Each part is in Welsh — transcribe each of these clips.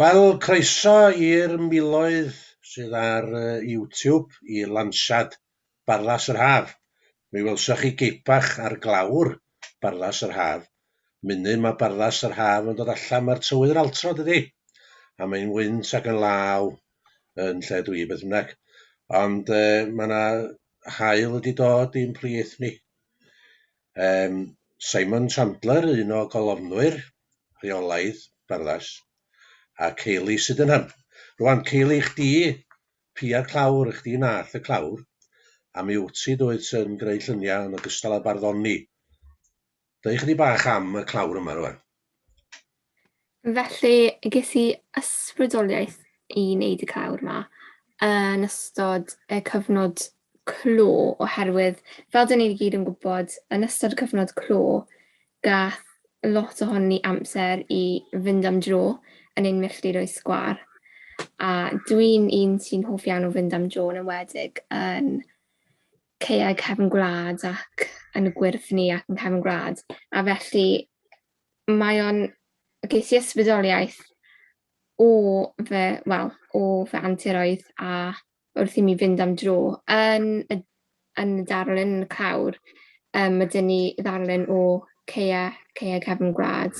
Wel, croeso i'r miloedd sydd ar yy YouTube i lansiad Barlas yr Haf. Mi welsoch chi gip bach ar glawr Barlas yr Haf. Munud ma' Barlas yr Haf yn dod allan ma'r tywydd yn altro dydi? A mae'n wynt ac yn law yn lle dw i beth bynnag. Ond yy ma' 'na haul wedi dod i'n plith ni. Um, Simon Chandler, un o golofnwyr rheolaidd Barddas, a Kayleigh Sydenham. Rwan, Kayleigh, chdi, pia'r clawr, i chdi nath y clawr, a mi wyt ti doedd sy'n greu lluniau yn ogystal â barddoni. Dweud chydig bach am y clawr yma rwan. Felly, ges i ysbrydoliaeth i wneud y clawr yma yn ystod y cyfnod clo oherwydd fel dyn ni'n gyd yn gwybod yn ystod y cyfnod clo gath lot ohon ni amser i fynd am dro yn ein milltir o'i sgwar. A dwi'n un sy'n hoff iawn o fynd am dro yn enwedig yn caeau cefn gwlad ac yn y gwyrdd ni ac yn cefn gwlad. A felly mae o'n ges i ysbrydoliaeth o fy, wel, o fy anturoedd a wrth i mi fynd am dro yn y yn y darlun yn y clawr, um, mae dyn ni ddarlun o ceia, ceia cefn gwlad,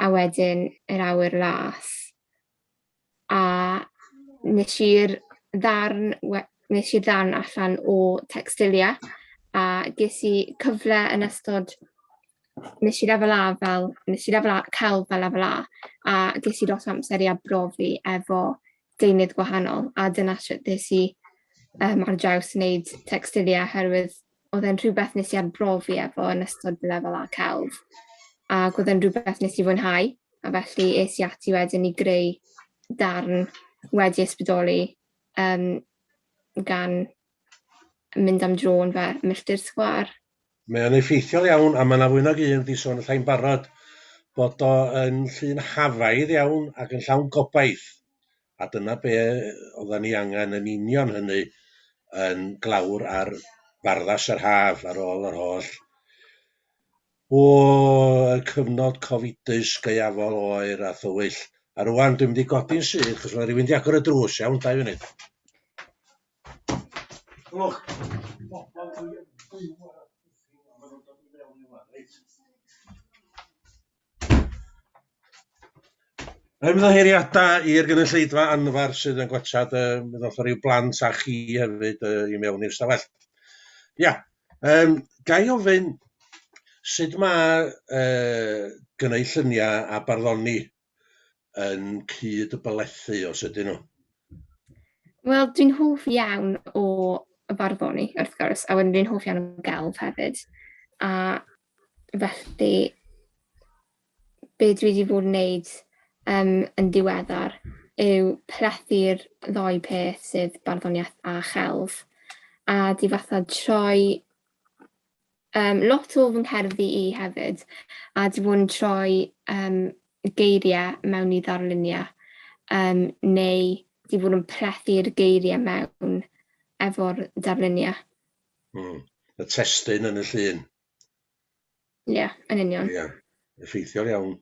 a wedyn yr awyr las. a nes i'r ddarn we- nes i'r ddarn allan o Textilia a ges i cyfle yn ystod nes i lefel A fel nes i lefel A celf fel lefel A a ges i lot o amser i arbrofi efo deunydd gwahanol a dyna shwt nes i yym ar draws wneud Textilia oherwydd oedd e'n rhywbeth nes i arbrofi efo yn ystod fy lefel A celf, ac oedd e'n rhywbeth nes i fwynhau, a felly es i ati wedyn i greu darn wedi ysbrydoli um, gan mynd am dro yn fy milltir sgwâr. Mae o'n effeithiol iawn, a mae yna fwy nag un wedi sôn allai'n barod bod o yn llun hafaidd iawn ac yn llawn gobaith. a dyna be' oddan ni angen yn union hynny yn glawr ar farddas yr haf ar ôl yr holl o y cyfnod cofidus gaeafol oer a thywyll. A rwan dwi'n mynd i godi'n syth achos mae rhywun 'di agor y drws, iawn, dau funud. Look, Ymddiheuriadau i'r gynulleidfa anfer sydd yn gwachad, yy mi ddoth ryw blant a chi hefyd yy i mewn i'r stafell. Ia, yym ga i ofyn sut ma' yy gyneu llunia' a barddoni yn cyd-bylethu os ydyn nhw? Wel dwi'n hoff iawn o barddoni wrth gwrs a wedyn dwi'n hoff iawn o gelf hefyd a felly be dwi wedi bod yn wneud um, yn diweddar yw plethu'r ddau peth sydd barddoniaeth a chelf a di fatha troi um, lot o fy ngherddi i hefyd a di bod yn troi um, geiriau mewn i ddarluniau um, neu di bod yn plethu'r geiriau mewn efo'r darluniau Mm. Y testun yn y llun. Ie, yeah, yn union. Ie, yeah. effeithiol iawn.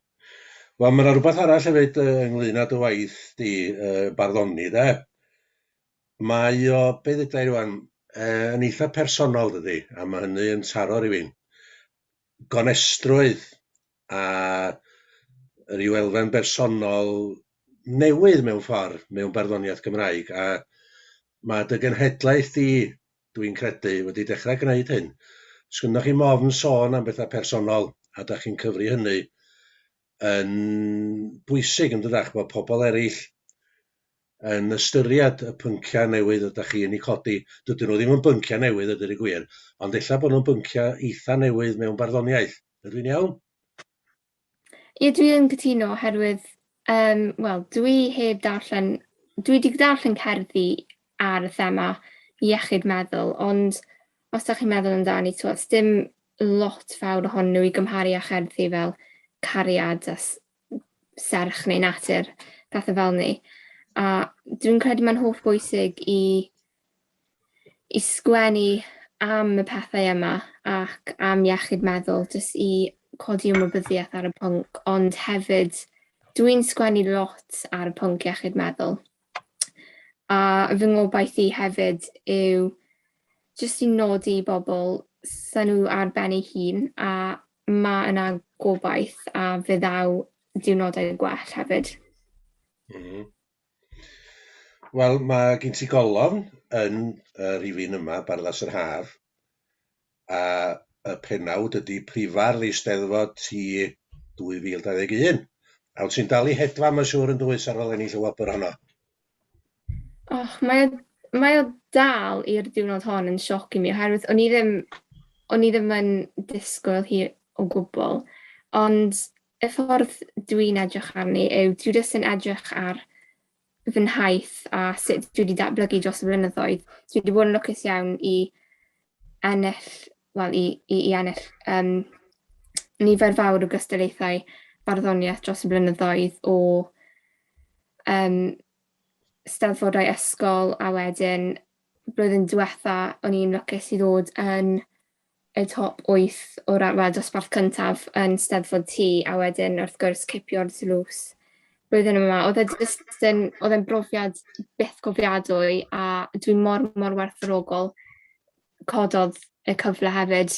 Wel, mae yna rhywbeth arall hefyd uh, ynglyn â dy waith di, uh, barddoni, de. Mae o, be ddydau rwan, uh, yn eitha personol, dydy, a mae hynny yn taro rhywun. Gonestrwydd a rhyw elfen bersonol newydd mewn ffordd, mewn barddoniaeth Gymraeg, a mae dy genhedlaeth di dwi'n credu, wedi dechrau gwneud hyn. Os gynnoch chi mofn sôn am bethau personol a dach chi'n cyfri hynny yn bwysig yn dydach bod pobl eraill yn ystyried y pynciau newydd ydych chi yn eu codi. Dydyn nhw ddim yn bynciau newydd ydy'r y gwir, ond ella bod nhw'n bynciau eitha newydd mewn barddoniaeth. Ydw i'n iawn? Ie, dwi yn cytuno oherwydd, um, wel, dwi heb darllen... Dwi wedi darllen cerddi ar y thema iechyd meddwl, ond os da chi'n meddwl amdani, twa, dim lot fawr ohonyn nhw i gymharu â cherddi fel cariad a serch neu natur, pethau fel ni. A dwi'n credu mae'n holl bwysig i i sgwennu am y pethau yma ac am iechyd meddwl, jyst i codi ymwybyddiaeth ar y pwnc, ond hefyd dwi'n sgwennu lot ar y pwnc iechyd meddwl. A fy ngobaith i hefyd yw jyst i nodi i bobl sy'n nhw ar ben ei hun a mae yna gobaith a fe ddaw diwrnodau gwell hefyd. Mm -hmm. Wel ma' gin ti golofn yn yy rifyn yma Barddas yr Haf a y pennawd ydi Prifardd Eisteddfod ti 2021 a wt ti'n dal i hedfan ma' siŵr yn dwyt ar ôl ennill y wobr honno? Och mae o mae o dal i'r diwrnod hon yn sioc i mi oherwydd o'n i ddim o'n i ddim yn disgwyl hi o gwbwl ond Y ffordd dwi'n edrych arni yw dwi jyst yn edrych ar fy nhaith a sut dwi wedi datblygu dros y blynyddoedd. Dwi wedi bod yn lwcus iawn i ennill, wel i, i, i ennill um, nifer fawr o gystyllaethau barddoniaeth dros y blynyddoedd o um, steddfodau ysgol a wedyn blwyddyn diwetha o'n i'n lwcus i ddod yn y top wyth o ran, wel, dosbarth cyntaf yn Steddfod T, a wedyn, wrth gwrs, cipio'r dlws blwyddyn yma. Oedd e jyst yn, oedd e'n brofiad byth cofiadwy, a dwi mor, mor werthfawrogol cododd y cyfle hefyd.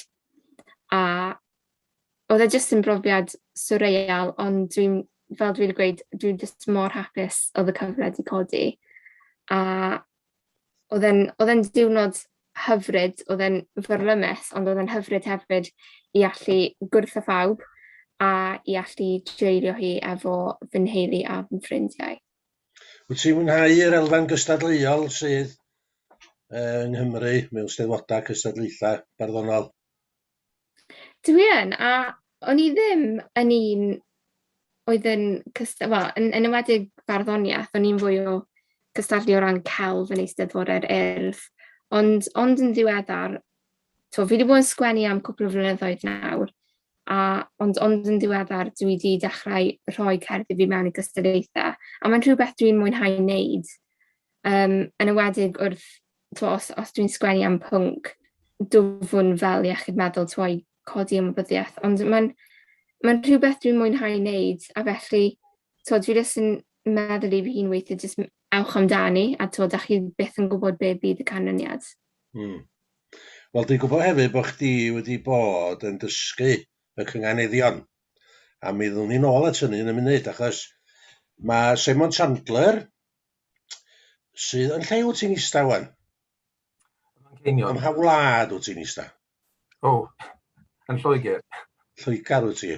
A oedd e jyst yn brofiad surreal, ond dwi'n, fel dwi wedi gweud, dwi jyst mor hapus oedd y cyfle wedi codi. A oedd e'n oedd e'n diwrnod hyfryd, oedd e'n fyrlymus, ond oedd e'n hyfryd hefyd i allu gwrdd â phawb a i allu dreulio hi efo fy nheulu a fy ffrindiau. Wyt ti'n mwynhau yr elfen gystadleuol sydd uh, yng Nghymru mewn steddfodau cystadlaethau barddonol? Dwi yn, a o'n i ddim yn un oedd yn cyst- wel, yn yn enwedig barddoniaeth, o'n i'n fwy o cystadlu o ran celf yn Eisteddfodau'r Urdd. Ond ond yn ddiweddar, tibod, fi 'di bod yn sgwennu am cwpl o flynyddoedd nawr, a ond ond yn ddiweddar dwi 'di dechrau rhoi cerddi fi mewn i gystadlaethau, a mae'n rhywbeth dwi'n mwynhau wneud, yym, yn enwedig wrth... t'mo' os os dwi'n sgwennu am pwnc dwfwn fel iechyd meddwl t'mo' i codi ymwybyddiaeth ond ma'n ma'n rhywbeth dwi'n mwynhau neud a felly t'o' dwi jyst yn meddwl i fy hun weithie jyst m- ewch amdani a t'o' 'dach chi byth yn gwbod be' fydd y canlyniad. Hmm. Wel dwi'n gwybod hefyd bod chdi wedi bod yn dysgu y cynganeddion a mi ddwn ni nôl at hynny yn y munud achos ma' Simon Chandler Sydd yn lle wyt ti'n ista wan? Manceinion. Ym mha wlad wyt ti'n ista? O, oh, yn Lloegr. Lloegr wyt ti?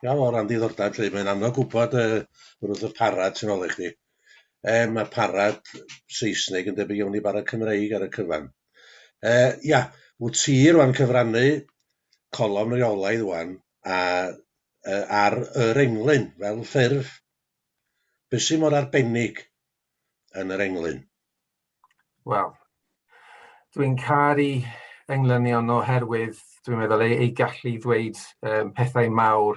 Iawn, o ran diddordeb, lle mae'n anodd gwybod uh, wrth y parad sy'n ôl i chdi. E, mae parad Saesneg yn debyg iawn i barad Cymreig ar y cyfan. E, ia, wyt ti rwan cyfrannu colofn reolaidd wan a, uh, ar yr englyn fel ffurf Be sy mor arbennig yn yr englyn? Wel, dwi'n caru englynion oherwydd dwi'n meddwl eu, eu gallu i ddweud um, pethau mawr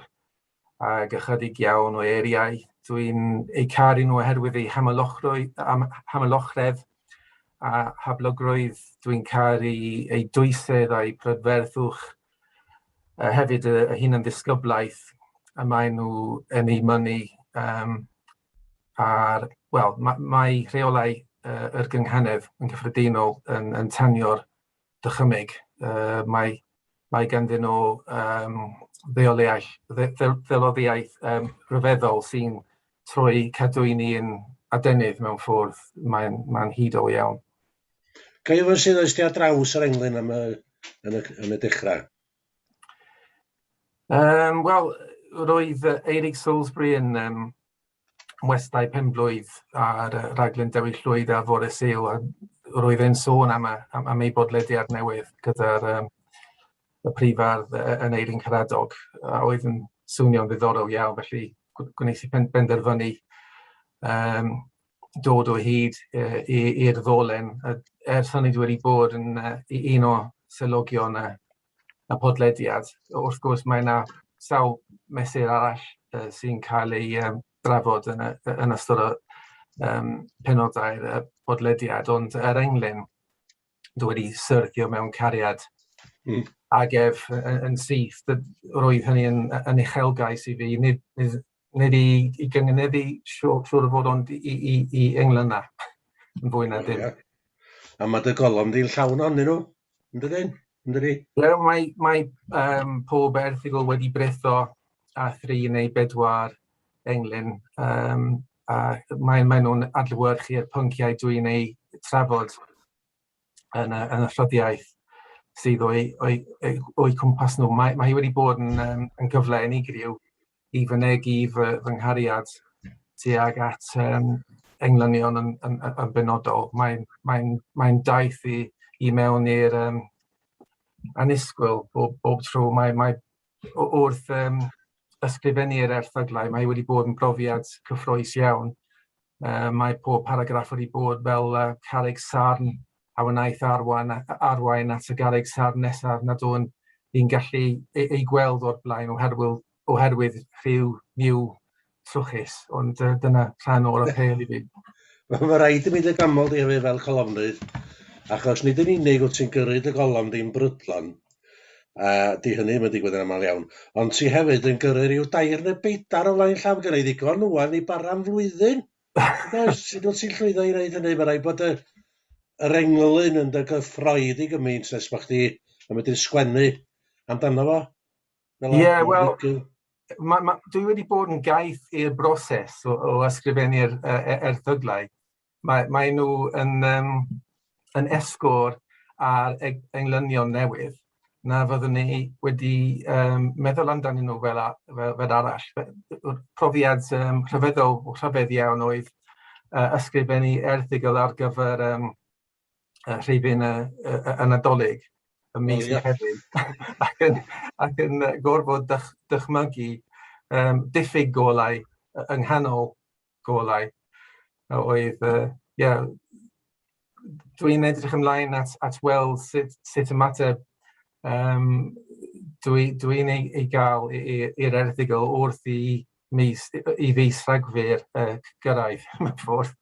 ag ychydig iawn o eiriau. Dwi'n eu caru nhw oherwydd eu hamylochredd a hablogrwydd. Dwi'n caru eu dwysedd a'u prydferthwch. uh, hefyd y, y hunan ddisgyblaeth y maen nhw yn ei mynnu um, a'r, wel, mae, mae rheolau uh, yr gynghanedd yn gyffredinol yn, yn tanio'r dychymyg. Uh, mae, mae ganddyn nhw um, ddeoliaeth, ddeloddiaeth um, rhyfeddol sy'n troi cadwyni yn adenydd mewn ffwrdd mae'n mae hudol iawn. Caio fo sydd oes ti ar draws yr englyn am y, yn y, yn y dechrau? Um, Wel, roedd Eirig Salisbury yn um, westau penblwydd ar uh, raglen Dewi Llwyd a fore Sul a roedd e'n sôn am, am, am ei bodlediad newydd gyda'r um, y prifardd yn Eirin Caradog a oedd yn swnio'n ddiddorol iawn felly gwneud i penderfynu um, dod o hyd i'r ddolen. Ers hynny dwi wedi bod yn un o swyddogion y podlediad. Wrth gwrs mae 'na sawl mesur arall sy'n cael ei drafod yn ystod y penodau'r podlediad, ond er englyn dwi wedi syrthio mewn cariad ag ef yn syth. Roedd hynny yn uchelgais i fi. Nid i, i gyngeneddu, siwr, siwr o fod, ond i, i, i englynna, yn fwy na dim. Yeah. A mae dy golofn di'n llawn o'n nhw, yn dydyn? Yn dydi? Ie, mae, mae um, pob erthigol wedi bretho a thri neu bedwar englyn, um, a mae, mae nhw'n adlywyrchu'r pynciau dwi'n ei trafod yn y, yn y rhoddiaeth sydd o'i, o'i, o'i, o'i cwmpas nhw. Mae, mae hi wedi bod yn, um, yn gyfle unigryw i fynegi fy fy nghariad tuag at yym englynion yn yn yn benodol. Mae'n mae'n mae'n daith i i mewn i'r yym annisgwyl bob bob tro. Mae mae w- wrth yym ysgrifennu'r erthyglau mae wedi bod yn brofiad cyffrous iawn. Yy mae pob paragraff wedi bod fel yy carreg sarn. a wnaeth arwain, arwain at y garreg sarn nesaf nad o'n i'n gallu ei, ei gweld o'r blaen oherwydd, oherwydd rhyw niw trwchus, ond uh, dyna rhan o'r apel i fi. Mae rhaid i mi dy ganmol di hefyd fel colofnydd, achos nid yn unig wyt ti'n gyrru dy golofn di'n brydlon, a di hynny mae'n digwydd yn aml iawn, ond ti hefyd yn gyrru rhyw dair neu beidar o flaen llaw gyda'i ddigon wwan i bara am flwyddyn. Does, sut wyt ti'n llwyddo i wneud hynny? Mae'n rhaid bod y, yr englyn yn dy gyffroedd i gymaint nes bod chdi yn medru sgwennu amdano fo. Fel Ie, yeah, wel, ma, ma, dwi wedi bod yn gaeth i'r broses o, o ysgrifennu'r uh, erthyglau. Mae, mae nhw yn... Um, yn esgor ar englynion newydd na fyddwn ni wedi um, meddwl amdanyn nhw fel, a, fel, fel arall. Profiad um, rhyfeddol, rhyfedd iawn oedd uh, ysgrifennu erthigol ar gyfer um, uh, rhifyn y, y, y, y Nadolig y mis oh, yeah. hefyd, ac yn, ac yn gorfod dych, dychmygu um, diffyg golau yng nghanol golau a oedd yy ie dwi'n edrych ymlaen at at weld sut sut ymateb yym dwi dwi'n ei ei gael i i i'r erthygl wrth i mis i fis Rhagfyr yy gyrraedd mewn ffordd.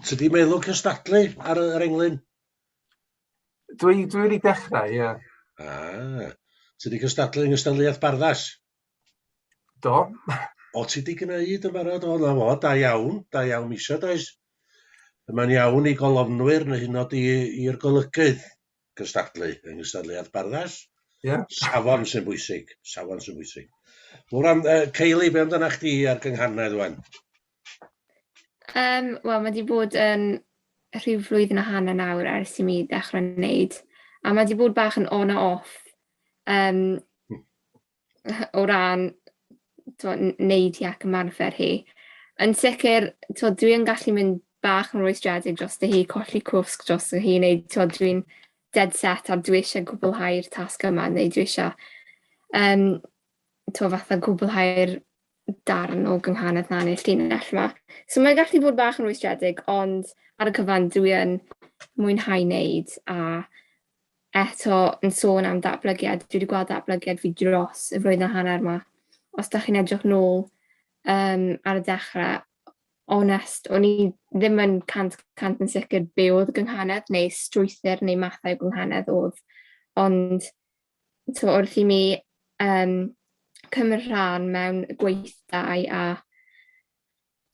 Tydi meddwl cystadlu ar y- yr englyn? Dwi dwi wedi dechrau ie. Ah. Ti 'di cystadlu yng nghystadleuaeth barddas? Do. o ti di gwneud yn barod? O, na fo, da iawn, da iawn isio, does? Mae'n iawn i golofnwyr neu hyn oed i'r golygydd gystadlu yng nghystadleuaeth barddall. Yeah. Safon sy'n bwysig, safon sy'n bwysig. Wel, am, uh, Ceili, be amdana chdi ar gynghanedd wan? Um, Wel, mae wedi bod yn rhyw flwyddyn a hanner nawr ers i mi ddechrau wneud. A mae wedi bod bach yn on a off. Um, o ran t'mo' n- neud hi ac ymarfer hi. Yn sicir t'mo' dwi yn gallu mynd bach yn rwystredig drosto hi colli cwsg drosto hi neu t'mo' dwi'n dead set a dwi isie gwblhau'r tasg yma neu dwi isio yym t'mo' fatha gwblhau'r darn o gynghanedd 'na ne'r llinell 'ma. So mae'n gallu bod bach yn rwystredig ond ar y cyfan dwi yn mwynhau neud a eto yn sôn am ddatblygiad, dwi wedi gweld ddatblygiad fi dros y flwyddyn a hanner yma. Os da chi'n edrych nôl um, ar y dechrau, onest, o'n i ddim yn cant cant yn sicr be oedd gynghanedd neu strwythyr neu mathau gynghanedd oedd. Ond to, wrth i mi um, cymryd rhan mewn gweithdai a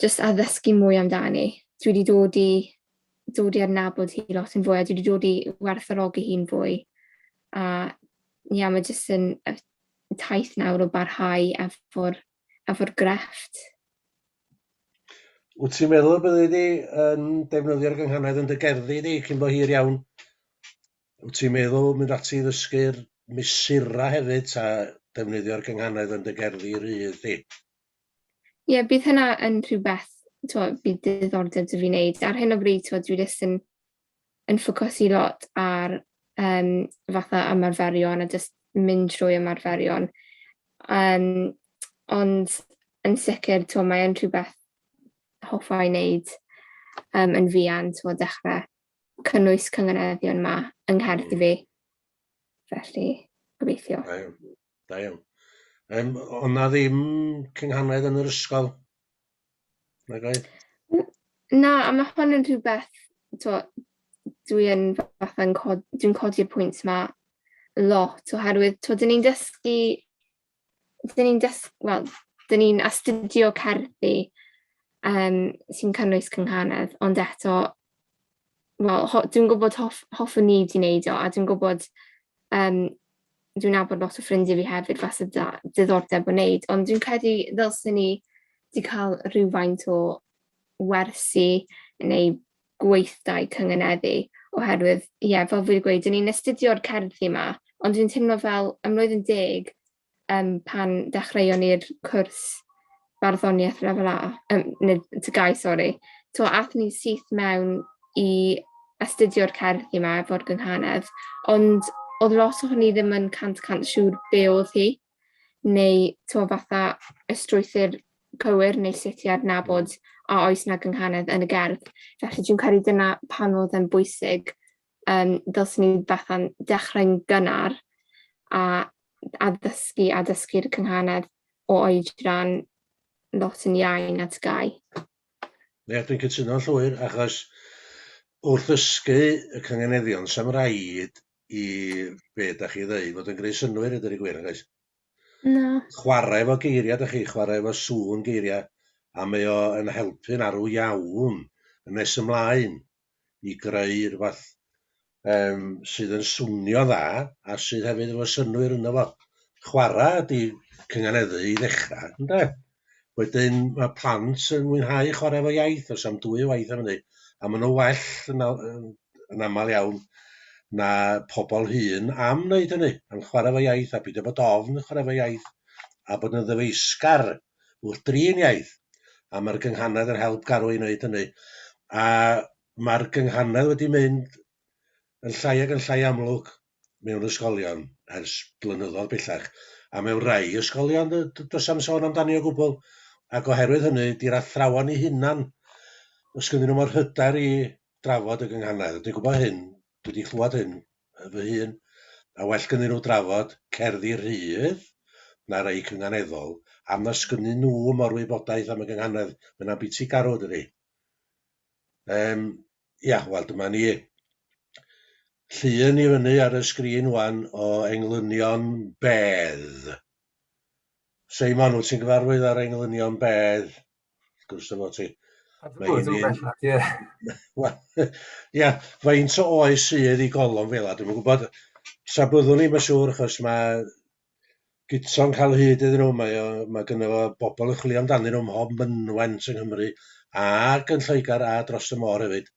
jyst a ddysgu mwy amdani. Dwi wedi dod i dod i adnabod hi lot yn fwy a dwi wedi dod i werthorogi hi'n fwy. A ia mae jyst yn y taith nawr o barhau efo'r efo grefft. Wyt ti'n meddwl y byddi di yn defnyddio'r gynghanedd yn dy gerddi di cyn bo hir iawn? Wyt ti'n meddwl mynd ati i ddysgu'r mesurau hefyd ta defnyddio'r gynghanedd yn dy gerddi rydd di? Ie, bydd hynna yn rhywbeth, t'mo', bydd diddordeb 'da fi wneud. Ar hyn o bryd, t'mo', dwi jyst yn yn ffocysu lot ar um, fatha ymarferion a jyst mynd trwy ymarferion. Um, ond yn sicr, t'mo', mae yn rhywbeth hoffa i wneud um, yn fuan, t'mo', dechrau cynnwys cynganeddion yma yng Nghaerdydd fi. Felly, gobeithio. Da iawn. Yym, oedd 'na ddim cynghanedd yn yr ysgol? Nag oedd? Na, a mae hwn yn rhywbeth, to, dwi yn fatha yn cod, dwi'n codi'r pwynt yma lot oherwydd, to, dyn ni'n dysgu, dyn ni'n dysgu, wel, dyn ni'n astudio cerddi um, sy'n cynnwys cynghanedd, ond eto, wel, dwi'n gwybod hoff, hoffwn ni wedi wneud o, a dwi'n gwybod um, dwi'n abod lot o ffrindiau fi hefyd falle da diddordeb o wneud, ond dwi'n credu ddylsyn ni wedi cael rhywfaint o wersi neu gweithdai cyngeneddu, oherwydd, ie, yeah, fel fi wedi gweud, ni'n astudio'r cerddi yma, ond dwi'n teimlo fel ymlwydd yn deg um, pan dechreuon ni'r cwrs barddoniaeth lefel A, um, nid to gau, sori. To athyn ni syth mewn i astudio'r cerdd yma efo'r gynghanedd, ond oedd lot o hynny ddim yn cant cant siŵr be oedd hi, neu to fatha y strwythyr cywir neu sut i adnabod a oes na gynghanedd yn y gerdd. Felly dwi'n credu dyna pan oedd yn bwysig um, dylsyn ni fatha'n dechrau'n gynnar a addysgu a dysgu'r cynghanedd o oedran lot yn iau na tgau. Ie, dwi'n cytuno llwyr, achos wrth ddysgu y cynganeddion, sam rhaid i be da chi ddweud fod yn greu synwyr ydy'r gwir, yn oes? Na. Chwarae efo geiriau, da chi, chwarae efo sŵn geiriau, a mae o yn helpu'n arw iawn yn nes ymlaen. i greu rhywbeth yym sydd yn swnio'n dda a sydd hefyd efo synnwyr ynddo fo. Chwarae ydy cynganeddu i ddechrau, ynde? Wedyn mae plant yn mwynhau chwarae efo iaith, os am dwy waith am hynny, a maen nhw well yn, yn, yn aml iawn na pobl hŷn am wneud hynny, am chwarae efo iaith a peidio bod ofn chwarae efo iaith a bod yn ddyfeisgar wrth drin iaith, a mae'r gynghanedd yn help Garw i wneud hynny. A mae'r gynghanedd wedi mynd yn llai ac yn llai amlwg mewn ysgolion ers blynyddoedd bellach, a mewn rhai ysgolion does am sôn amdani o gwbl, ac oherwydd hynny, di'r athrawon eu hunan, os gynddyn nhw mor hyder i drafod y gynghanedd, dwi'n gwybod hyn, dwi wedi chlywed hyn fy hun, a well gynnyn nhw drafod cerddi rhydd na rei cynganeddol, am na sgynnyn nhw mor wybodaeth am y gynghanedd, mae hynna'n biti garw dydi? Yym, ia, wel dyma ni. Llun i fyny ar y sgrin wan o englynion bedd. Seimon, wyt ti'n gyfarwydd â'r englynion bedd? gwrs efo ti. Mae hi'n un... Ie. Wel, ia, faint o oes sydd i golofn fel a dwi'n gwybod, tra byddwn ni'n yn siŵr, achos mae gyto'n cael hyd iddyn nhw, mae, o, mae gynnu fo bobl yn chwilio amdanyn nhw mhob mynwent yng Nghymru, ac yn Lloegr a dros y môr hefyd.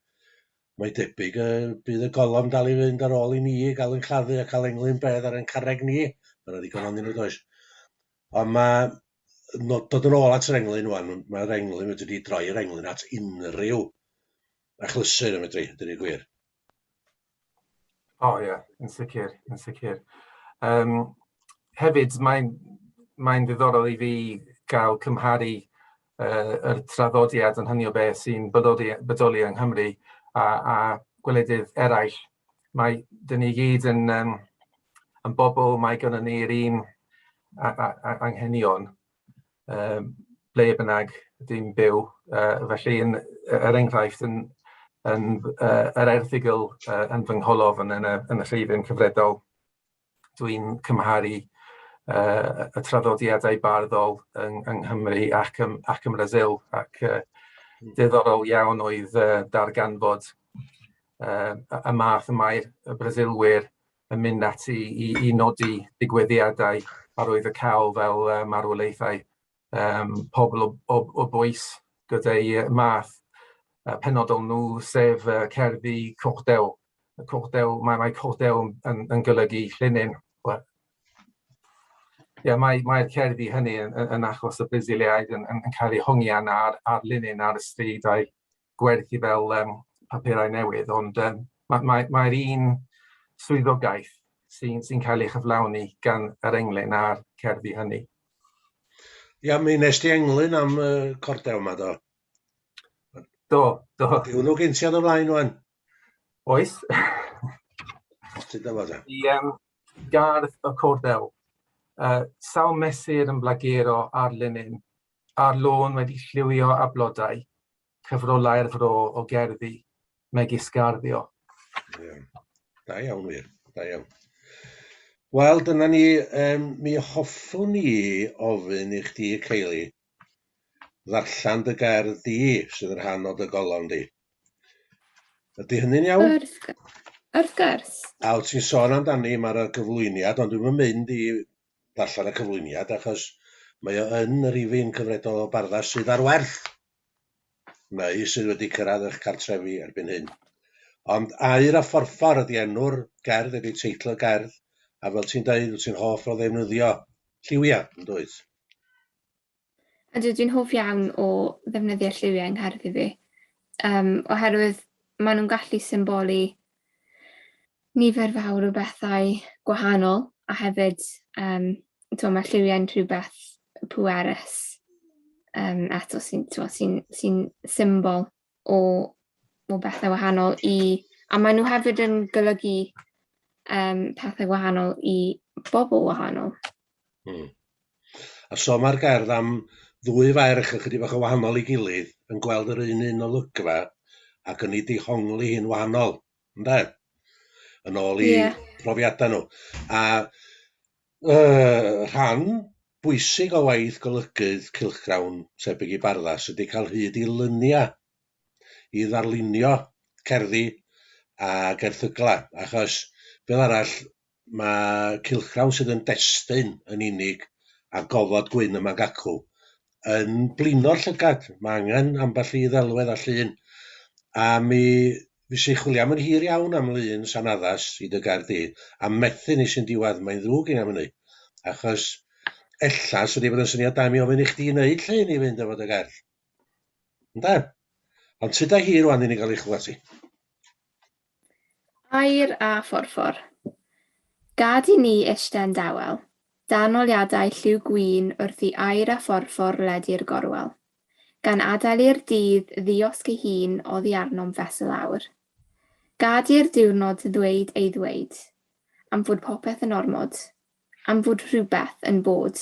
Mae debyg y bydd y golofn dal i fynd ar ôl i ni gael yn claddu a cael englyn bedd ar ein carreg ni. Mae yna ddigon o'n nhw, does. Ond mae nod, dod yn ôl at yr englyn wan, mae'r englyn wedi di droi yr englyn at unrhyw achlysur yn fedru, dyn ni'n gwir. O oh, ie, yeah. yn sicr, yn sicr. Um, hefyd, mae'n mae ddiddorol i fi gael cymharu uh, yr traddodiad yn hynny o beth sy'n bodoli, bodoli yng Nghymru a, a gwledydd eraill mae dyn ni gyd yn um, yn bobl, mae gynnon ni'r un anghenion um, ble bynnag dwi'n byw. Uh, felly, yn, er enghraifft, yn, yn, uh, yr erthigol uh, yn fy ngholofn yn y, yn y lleifion cyfredol, dwi'n cymharu uh, y traddodiadau barddol yng, yng Nghymru ac ym, ac ym Brazil, ac uh, diddorol iawn oedd uh, darganfod uh, y math y mae'r Brasilwyr yn mynd ati i, i nodi digwyddiadau a roedd y cael fel uh, marwolaethau um, pobl o, o, o bwys gyda'i math uh, penodol nhw, sef uh, cerddi cochdew. Cochdew, mae, mae cochdew yn, yn golygu llinyn. Well, yeah, mae'r mae cerddi hynny yn, yn achos y Brasiliaid yn, yn, yn cael eu hongian ar, ar linyn ar y stryd a'i gwerthu fel um, papurau newydd, ond um, mae'r ma, ma un swyddogaeth sy'n sy cael ei chyflawni gan yr englyn a'r cerddi hynny. Ia, mi nes ti englyn am y uh, cordew yma, do? Do, do. Di hwnnw gen ti ar y flaen, o'n? Oes. Ti'n dyma, da? I um, gardd y cordew. Uh, sawl mesur yn blagero ar linyn a'r lôn wedi lliwio â blodau, cyfrolai'r fro o gerddi, megis garddio. Ie. Da iawn wir, da iawn. Wel, dyna ni, um, mi hoffwn ni ofyn i chdi, Ceili, ddarllen dy gerdd di, sydd yn rhan o dy golofn di. Ydy hynny'n iawn? Wrth, wrth gwrs. A wyt ti'n sôn amdani, mae'r gyflwyniad, ond dwi'n mynd i ddarllen y cyflwyniad achos mae o yn y rifyn cyfredol o barddau sydd ar werth neu sydd wedi cyrraedd eich cartrefi erbyn hyn. Ond Aur a Phorffor ydy enw'r gerdd, ydy teitl y gerdd, a fel ti'n deud, wyt ti'n hoff o ddefnyddio lliwiau, yn dwyt? Ydw, dwi'n hoff iawn o ddefnyddio lliwiau yng ngherddi fi, um, oherwydd maen nhw'n gallu symbolu nifer fawr o bethau gwahanol, a hefyd, um, to, mae lliwiau'n rhywbeth pwerus um, eto sy'n sy, sy, sy symbol o o bethe wahanol i a mae nhw hefyd yn golygu um, pethau wahanol i bobl wahanol. Hmm. A so mae'r gerdd am ddwy ferch yn chydig bach o wahanol i gilydd yn gweld yr un un olygfa ac yn ei dihongli hi'n wahanol. ynde? Yn ôl i... yeah. ...profiadau nhw. A yy rhan bwysig o waith golygydd cylchgrawn tebyg i Barddas ydy cael hyd i lyniau i ddarlunio cerddi ac erthyglau, achos fel arall Mae cylchgrawn sydd yn destun yn unig ar gofod gwyn y magacw yn blino'r llygad. Mae angen ambell i ddelwedd a llun. A mi fys i chwilio am yn hir iawn am lun sa'n addas i dy gair di, a methu nes yn diwadd, mae'n ddrwg gin am hynny. Achos ella syni bod yn syniad da i mi ofyn i chdi wneud llun i fynd efo dy gerdd. Ynde? Ond tyd a hi rwan i ni gael ei chlywed ti. Aur a phorffor. Gad i ni eistedd dawel, dan oliadau lliw gwin wrth i aur a phorffor ledu'r gorwel, gan adael i'r dydd ddiosg ei hun oddi arnom fesul aur. Gad i'r diwrnod ddweud ei ddweud, am fod popeth yn ormod, am fod rhywbeth yn bod.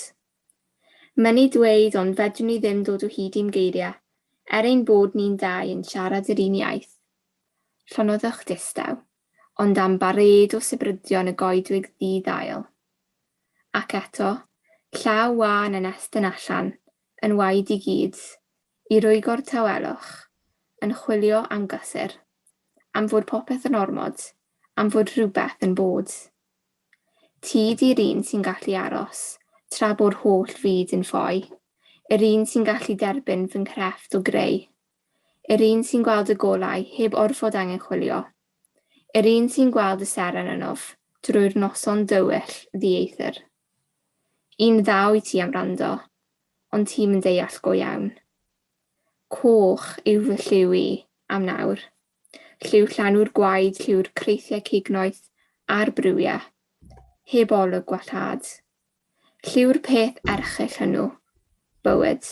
Mynnu dweud ond fedrwn ni ddim dod o hyd i'm geiriau, er ein bod ni'n dau yn siarad yr un iaith. Llonyddwch distaw, ond am barêd o sibrydion y goedwig ddi-ddail. Ac eto, llaw wân yn estyn allan, yn waed i gyd, i rwygo'r tawelwch, yn chwilio am gysur. Am fod popeth yn ormod, am fod rhywbeth yn bod. Ti 'di'r un sy'n gallu aros, tra bo'r holl fyd yn ffoi, Yr un sy'n gallu derbyn fy nghrefft o greu, Yr un sy'n gweld y golau heb orfod angen chwilio, Yr un sy'n gweld y seren ynof, drwy'r noson dywyll ddieithr. Un ddaw i ti am wrando, ond ti'm yn deall go iawn. Coch yw fy lliw i, am nawr, Lliw llanw'r gwaed, lliw'r creithiau cignoeth a'r briwiau, heb olwg gwallhad. Lliw'r peth erchyll hwnnw, bywyd.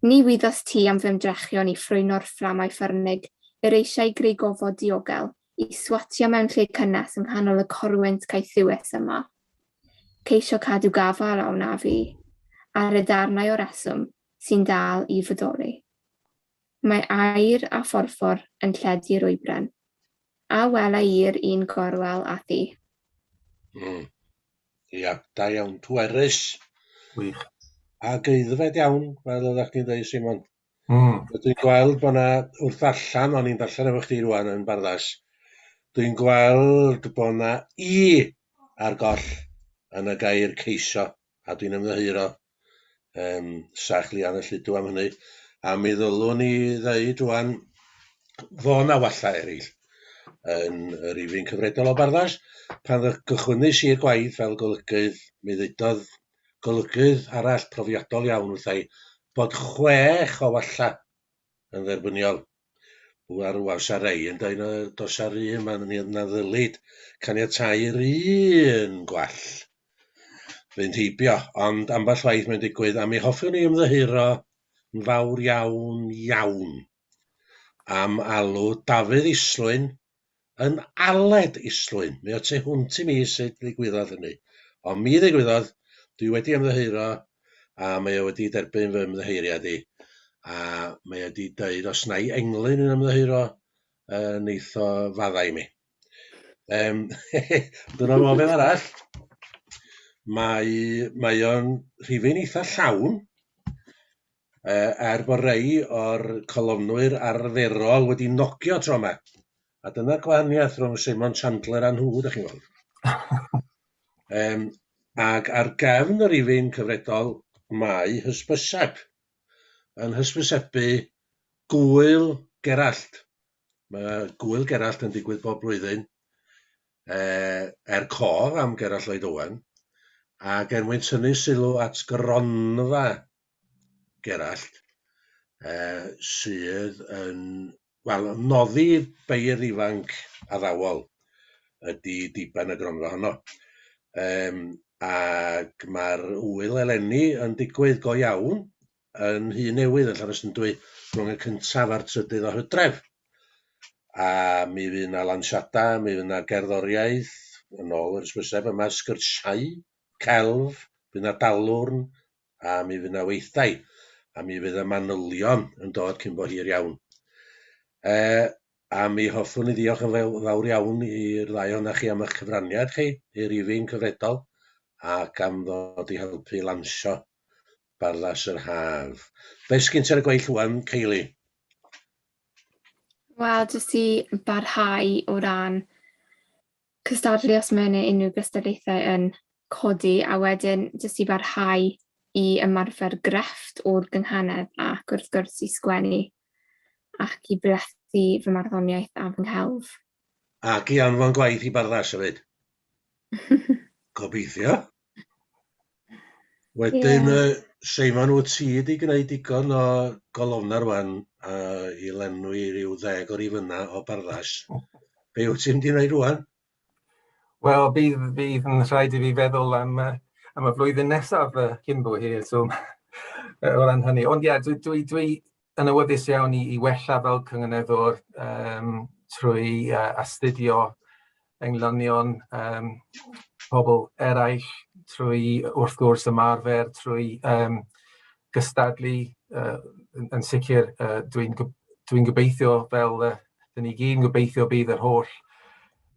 Ni wyddost ti am fy ymdrechion i ffrwyno'r fframau ffyrnig yr eisiau greu gofod diogel i swatio mewn lle cynnes yng nghanol y corwynt caethiwus yma. Ceisio cadw gafael a wnaf i, ar y darnau o reswm sy'n dal i fodoli. Mae aer a phorffor yn lledu'r oibren. A wela i'r un gorwel â thi. Mm. Ia, da iawn, pwerus. Wych. A geuddfed iawn, fel oeddech chdi'n dweud, Simon. Mm. Dwi'n gweld bod yna, wrth allan, o'n i'n darllen efo chdi rwan yn barddas, dwi'n gweld bod yna i ar goll yn y gair ceiso. a dwi'n ymddiheuro um, sach lian y lludw am hynny, a mi ddylwn i ddeud rwan, fo na walla eraill yn yr rifyn cyfredol o barddas. Pan gychwynnes i'r gwaith fel golygydd, mi ddeudodd golygydd arall profiadol iawn wrthai bod chwech o walla yn dderbyniol Bu ar ŵan sa rei yn dweud na does ar un man ni na ddylid caniatáu'r un gwall fynd heibio, ond ambell waith mae'n digwydd, a mi hoffwn i ymddiheuro yn fawr iawn, iawn am alw Dafydd Islwyn yn Aled Islwyn. Mi o't ti hwnt i mi sut ddigwyddodd hynny. Ond mi ddigwyddodd, dwi wedi ymddiheuro a mae o wedi derbyn fy ymddiheuriad i. A mae o wedi dweud os na i englyn yn ymddiheuro, uh, neith o faddau mi. Um, dyna fo fel arall. Mae, mae o'n rhifyn eitha llawn. er bod rhai o'r colofnwyr arferol wedi nogio tro 'ma. A dyna'r gwahaniaeth rhwng Simon Chandler a nhw, 'dach chi'n weld. Yym, ac ar gefn y rifyn cyfredol, mae hysbyseb yn hysbysebu Gŵyl Gerallt. Mae Gŵyl Gerallt yn digwydd bob blwyddyn, yy, er cof am Gerallt Lloyd Owen, ac er mwyn tynnu sylw at gronfa Gerallt, uh, sydd yn, wel, noddi beirdd ifanc addawol ydy diben y gronfa honno. Um, ac mae'r wyl eleni yn digwydd go iawn yn hyn newydd yn Llanysndwy rhwng y cyntaf a'r trydydd o hydref. A mi fydd yna lansiada, mi fydd yna gerddoriaeth, yn ôl yr ysbyseb yma, sgyrsiau, celf, bydd yna dalwrn, a mi fydd 'na weithdai, a mi fydd y manylion yn dod cyn bo hir iawn. E, a mi hoffwn i ddiolch yn fawr iawn i'r ddau ohonoch chi am eich cyfraniad chi i'r rifyn cyfredol ac am ddod i helpu lansio Barddas yr Haf. Be sgyn ti ar y gweill wan, Ceili? Wel, jyst i barhau o ran cystadlu os mae yna unrhyw gystadlaethau yn codi a wedyn jyst i barhau i ymarfer grefft o'r gynghanedd ac wrth gwrs i sgwennu ac i blethu fy marddoniaeth a fy nghelf. Ac i anfon gwaith i Barddas hefyd. Gobeithio. Wedyn yy Seimon wyt ti wedi gwneud digon o golofna rŵan yy i lenwi ryw ddeg o rifanna o barddas. Be wyt ti'n mynd i wneud rŵan? Wel bydd bydd yn rhaid i fi feddwl am yy am y flwyddyn nesaf yy cyn bo hir so o ran hynny ond ie dwi dwi dwi yn awyddus iawn i i wella fel cynganeddwr yym trwy yy astudio englynion yym pobl eraill, trwy wrth gwrs ymarfer, trwy yym gystadlu yy yn yn sicr yy dwi'n gw- dwi'n gobeithio fel yy 'dyn ni gyd yn gobeithio bydd yr holl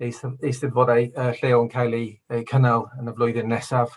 eist- eisteddfodau yy lleol yn cael eu eu cynnal yn y flwyddyn nesaf.